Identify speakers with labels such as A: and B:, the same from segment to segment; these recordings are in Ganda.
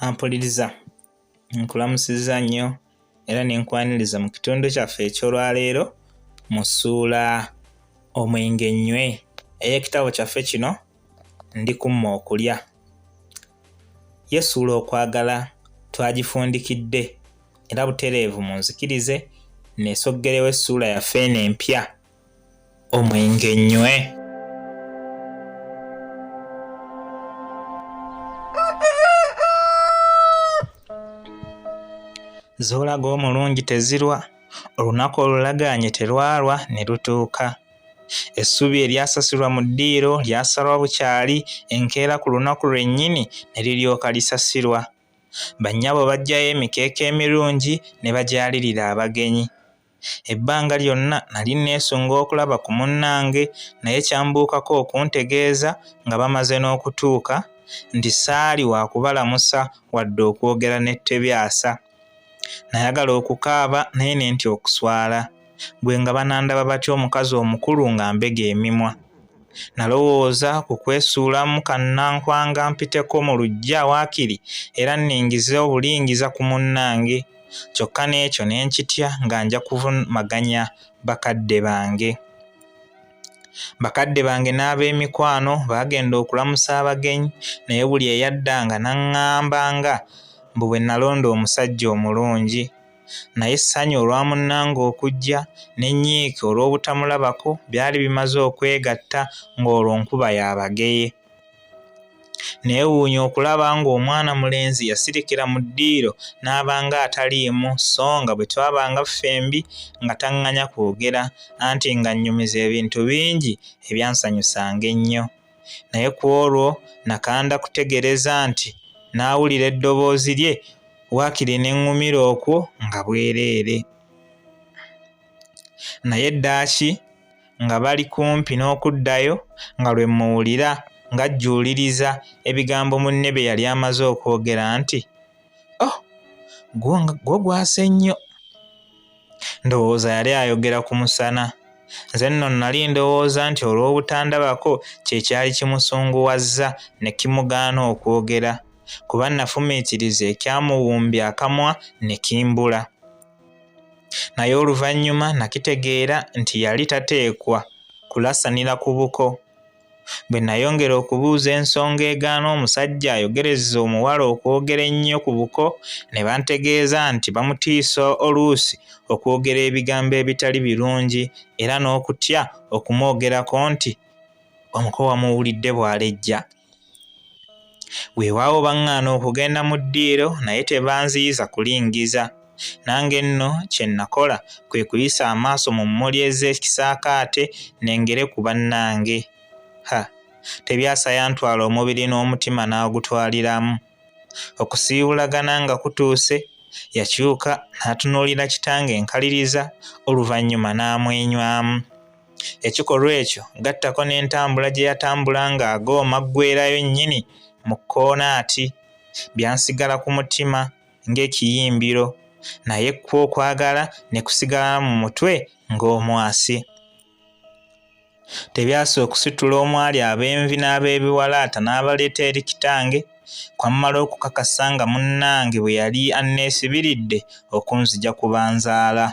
A: ampuliriza nkulamusiza nnyo era ne nkwaniriza mu kitundu kyaffe eky'olwaleero mu ssuula omwenge nnywe ey'ekitabo kyaffe kino ndi kumma okulya yesuula okwagala twagifundikidde era butereevu mu nzikirize neesoggerewo essuula yaffe eno empya omwenge nnywe z'olaga omulungi tezirwa olunaku olulagaanye terwalwa ne lutuuka essubi eryasasulwa mu ddiiro lyasalwa bukyali enkeera ku lunaku lwennyini ne liryoka lisasirwa bannyabo baggyayo emikeeka emirungi ne bagyalirira abagenyi Ebbanga lyonna nali nneesunga okulaba ku munnange naye kyambuukako okuntegeeza nga bamaze n'okutuuka nti saali wa kubalamusa wadde okwogera ne Tebyasa. Nayagala okukaaba naye ne ntya okuswala. Ggwe nga banandaba batya omukazi omukulu ng'ambega emimwa? Nalowooza ku kwesuulamu kannankwanga mpiteko mu luggya waakiri era nningize obulingiza ku munnange. Kyokka n'ekyo ne nkitya nga nja kuvumaganya bakadde bange. Bakadde bange n'ab'emikwano baagenda okulamusa abagenyi naye buli eyaddanga n'aŋŋamba nga mbu bwe nalonda omusajja omulungi. naye essanyu olwa munnange okujja n'ennyiike olw'obutamulabako byali bimaze okwegatta ng'olwo nkuba ya bageye. Neewuunya okulaba ng'omwana mulenzi yasirikira mu ddiiro n'abanga ataliimu so nga bwe twabanga ffembi nga taŋŋanya kwogera anti ng'annyumiza ebintu bingi ebyansanyusanga ennyo. naye ku olwo nakanda kutegereza nti n'awulira eddoboozi lye waakiri ne ŋŋumira okwo nga bwereere naye eddaaki nga bali kumpi n'okuddayo nga lwe mmuwulira ng'ajjuuliriza ebigambo munne bye yali amaze okwogera nti o oh, gwo gwasse nnyo ndowooza yali ayogera ku musana nze nno nnali ndowooza nti olw'obutandabako kye kyali kimusunguwazza ne kimugaana okwogera kuba nafumiitiriza ekyamuwumbi akamwa ne kimbula naye oluvannyuma nakitegeera nti yali tateekwa kulasanira ku buko Bwe nayongera okubuuza ensonga egaana omusajja ayogereza omuwala okwogera ennyo ku buko ne bantegeeza nti bamutiisa oluusi okwogera ebigambo ebitali birungi era n'okutya okumwogerako nti omuko wamuwulidde bw'alejja. Weewaawo baŋŋaana okugenda mu ddiiro naye tebanziyiza kulingiza. Nange nno kye nnakola kwe kuyisa amaaso mu mmuli ez'ekisaakaate nengere ku bannange. Ha! Tebyasa yantwala omubiri n'omutima n'agutwaliramu. Okusiibulagana nga kutuuse, yakyuka n'atunuulira kitange nkaliriza oluvannyuma n'amwenywamu. Ekikolwa ekyo gattako n'entambula gye yatambula ng'agooma ggwerayo nnyini mu kkoona ati, byansigala ku mutima ng'ekiyimbiro, naye kwo okwagala ne kusigala mu mutwe ng'omwasi. Tebyasa okusitula omwali ab'envi n'ab'ebiwalaata n'abaleeta eri kitange, kwammala okukakasa nga munnange bwe yali anneesibiridde okunzija ku banzaala.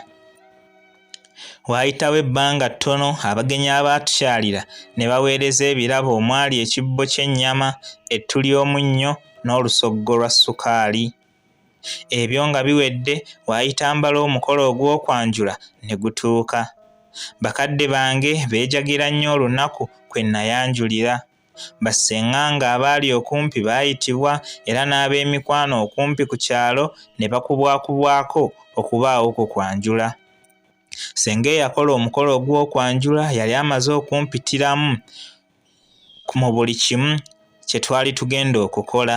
A: Waayitawo ebbanga ttono abagenyi abaatukyalira ne baweereza ebirabo omwali ekibbo ky'ennyama, ettu ly'omunnyo n'olusoggo lwa ssukaali. Ebyo nga biwedde waayita mbala omukolo ogw'okwanjula ne gutuuka. Bakadde bange beejagira nnyo olunaku kwe nnayanjulira. Basseng'anga abaali okumpi baayitibwa era n'ab'emikwano okumpi ku kyalo ne bakubwakubwako okubaawo ku kwanjula. Ssenga eyakola omukolo ogw'okwanjula yali amaze okumpitiramu mu buli kimu kye twali tugenda okukola.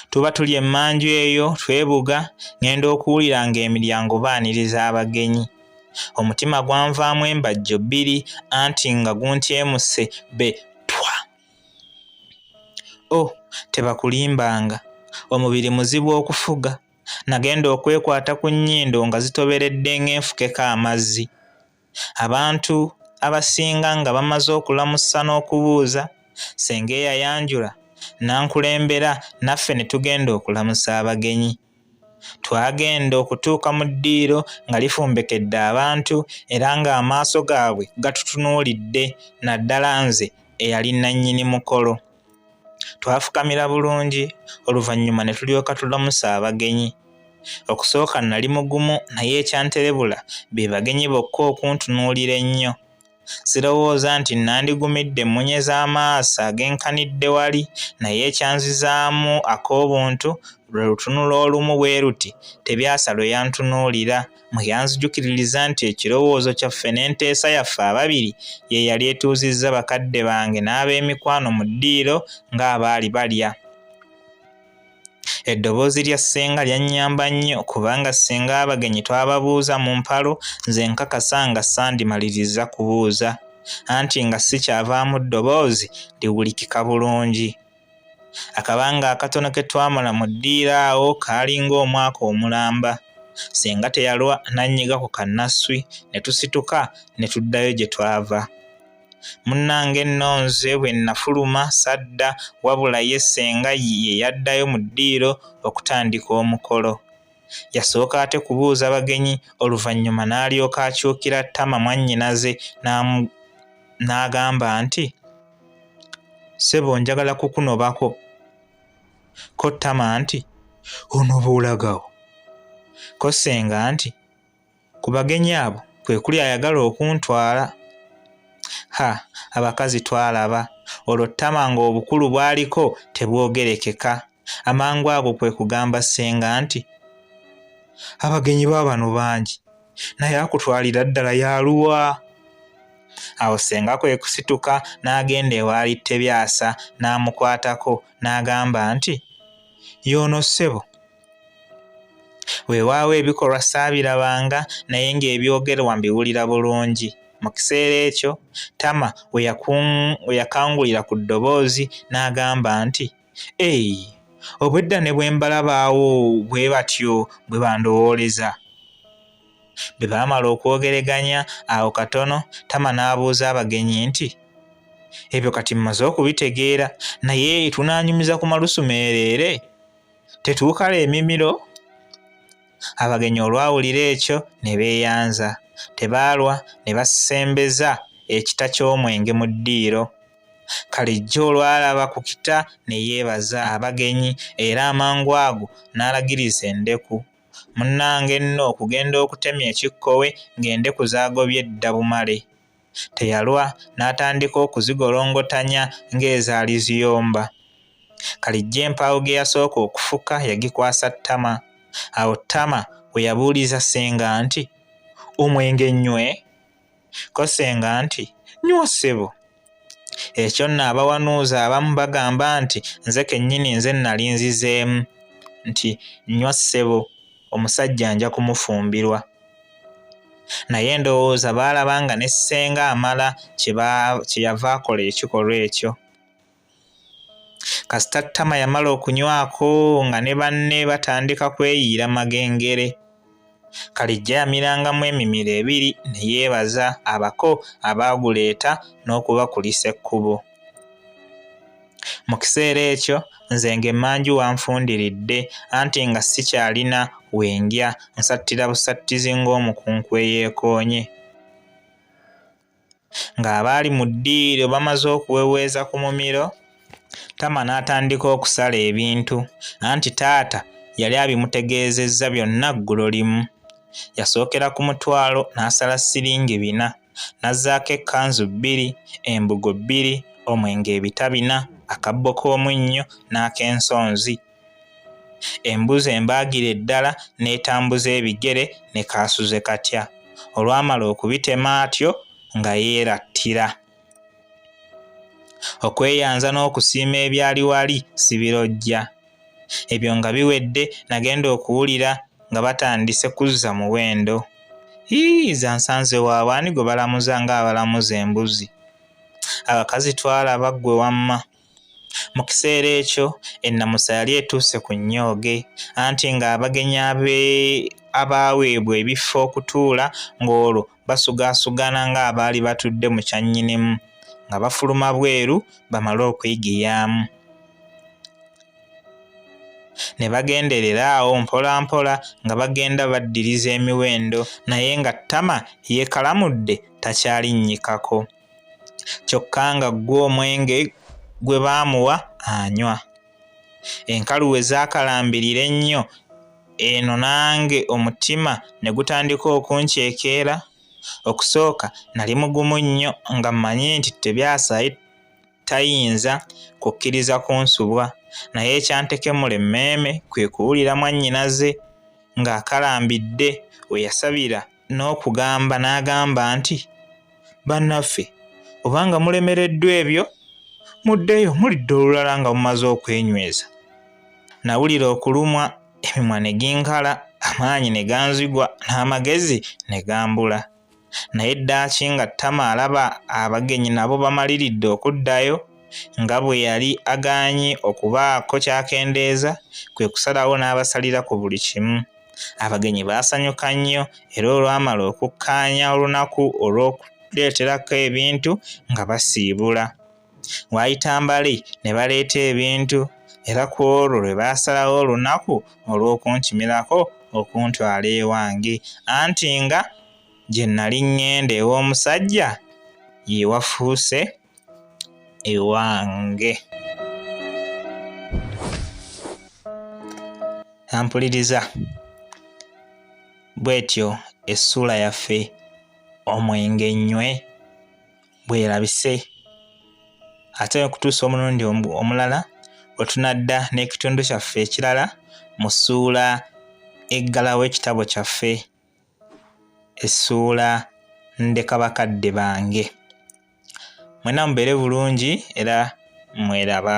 A: tuba tuli emmanju eyo twebuga ng'enda okuwulira ng'emiryango baaniriza abagenyi omutima gwanvaamu embajjo bbiri anti nga guntyemuse be twa o oh, tebakulimbanga omubiri muzibu okufuga nagenda okwekwata ku nnyindo nga zitoberedde ng'enfukeko amazzi abantu abasinga nga bamaze okulamusa n'okubuuza senga eyayanjula nankulembera naffe ne tugenda okulamusa abagenyi twagenda okutuuka mu ddiiro nga lifumbekedde abantu era ng'amaaso gaabwe gatutunuulidde naddala nze eyali nannyini mukolo Twafukamira bulungi oluvannyuma ne tulyoka tulamusa abagenyi. Okusooka nnali mugumu naye ekyanterebula be bagenyi bokka okuntunuulira ennyo. Sirowooza nti nnandigumidde emmunye z'amaaso agenkanidde wali naye ekyanzizaamu ak'obuntu lwe lutunula olumu bwe luti Tebyasa lwe yantunuulira. mu yanzijukiririza nti ekirowoozo kyaffe n'enteesa yaffe ababiri ye yali etuuzizza bakadde bange n'ab'emikwano mu ddiiro ng'abaali balya eddoboozi lya ssenga lyannyamba nnyo kubanga ssenga abagenyi twababuuza mu mpalo nze nkakasa nga sandimaliriza kubuuza anti nga sikyavaamu ddoboozi liwulikika bulungi Akabanga akatono ke twamala mu ddiiro awo kaali ng'omwaka omulamba. Ssenga teyalwa n'annyiga ku kannasswi ne tusituka ne tuddayo gye twava. Munnange nno nze bwe nnafuluma sadda wabula ye ssenga ye yaddayo mu ddiiro okutandika omukolo. Yasooka ate kubuuza bagenyi oluvannyuma n'alyoka akyukira ttama mwannyinaze n'agamba nti. sebo njagala kukunobako ko tama nti onoba olagawo ko senga nti ku bagenyi abo kwe kuli ayagala okuntwala ha abakazi twalaba olwo tama ng'obukulu bwaliko tebwogerekeka Amangu ago kwe kugamba ssenga nti, Abagenyi ba bano bangi, naye akutwalira ddala yaluwa? Awo ssenga kwe kusituka n'agenda ewaali Tebyasa n'amukwatako n'agamba nti, Y'ono ssebo. Weewaawo ebikolwa saabirabanga naye ng'ebyogerwa mbiwulira bulungi. Mu kiseera ekyo Tama we yakangulira ku ddoboozi n'agamba nti, Ei, obwedda ne bwe mbalabaawo bwe batyo bwe bandowooleza. Bwe baamala okwogereganya awo katono, Tama n'abuuza abagenyi nti, Ebyo kati mmaze okubitegeera, naye tunaanyumiza ku malusu meereere? Tetuukala emimiro? Abagenyi olwawulira ekyo ne beeyanza. Tebaalwa ne basembeza ekita ky'omwenge mu ddiiro. Kalijja olwalaba ku kita ne yeebaza abagenyi era amangu ago n'alagiriza endeku. Munnange nno okugenda okutemya ekikkowe ng'endeku zaagobye dda bumale. Teyalwa n'atandika okuzigolongotanya ng'ezaali ziyomba. Kalijja empaawo ge yasooka okufuka yagikwasa Ttama. Awo Ttama we yabuuliza ssenga nti, Omwenge nnywe? ko senga nti nyuwa sebo ekyo nno abawanuuza abamu bagamba nti nze kennyini nze nnali nzizeemu nti nywa ssebo omusajja nja kumufumbirwa naye ndowooza baalaba nga ne ssenga amala kye yava akola ekikolwa ekyo kasita ttama yamala okunywako nga ne banne batandika kweyiira magengere kalijja yamirangamu emimiro ebiri ne yeebaza abako abaaguleeta n'okubakulisa ekkubo mu kiseera ekyo nze ng'emmanju wanfundiridde anti nga sikyalina wendya nsattira busattizi ng'omukunku eyeekoonye Ng'abaali mu ddiiro bamaze okuweweeza ku mumiro, Tama n'atandika okusala ebintu anti taata yali abimutegeezezza byonna ggulo limu. Yasookera ku mutwalo n'asala ssiringi bina, n'azzaako ekkanzu bbiri, embugo bbiri, omwenge ebita bina, akabbo k'omunnyo n'ak'ensonzi. Embuzi embaagira eddala n'etambuza ebigere ne kaasuze katya. Olwamala okubitema atyo nga yeerattira. Okweyanza n'okusiima ebyali wali sibirojja. Ebyo nga biwedde nagenda okuwulira nga batandise kuzza muwendo. Yii zansanze waabwe ani gwe balamuza ng'abalamuza embuzi. Abakazi twalaba ggwe wamma. Mu kiseera ekyo ennamusa yali etuuse ku nnyooge anti ng'abagenyi abaaweebwa ebifo okutuula ng'olwo basugaasugana ng'abaali batudde mu kyannyinimu nga bafuluma bweru bamale okwegiyaamu. ne bagenderera awo mpolampola nga bagenda baddiriza emiwendo naye nga ttama yeekalamudde takyalinnyikako. kyokka nga ggwo omwenge gwe baamuwa anywa enkalu we zaakalambirira ennyo eno nange omutima ne gutandika okunkyekeera okusooka nali mugumu nnyo nga mmanyi nti tebyasai tayinza kukkiriza kunsubwa naye ekyantekemula emmeeme kwe kuwulira mwannyinaze ng'akalambidde we yasabira n'okugamba n'agamba nti bannaffe obanga mulemereddwa ebyo muddeyo mulidde olulala nga mumaze okwenyweza nawulira okulumwa emimwa ne ginkala amaanyi ne ganzigwa n'amagezi ne gambula naye ddaaki nga ttama alaba abagenyi nabo bamaliridde okuddayo nga bwe yali agaanyi okubaako kyakendeeza kwe kusalawo n'abasalira ku buli kimu abagenyi baasanyuka nnyo era olwamala okukkaanya olunaku olw'okuleeterako ebintu nga basiibula waayita mbale ne baleeta ebintu era ku olwo lwe baasalawo olunaku olw'okunkimirako okuntwala ewange anti nga gye nnali ŋŋenda ew'omusajja ye wafuuse ewange ampuliriza bw'etyo essuula yaffe omwenge nnywe bwerabise ate okutuusa omulundi omulala wetunadda n'ekitundu kyaffe ekirala mu ssuula eggalawo ekitabo kyaffe essuula ndeka bakadde bange mwena mubeere bulungi era mweraba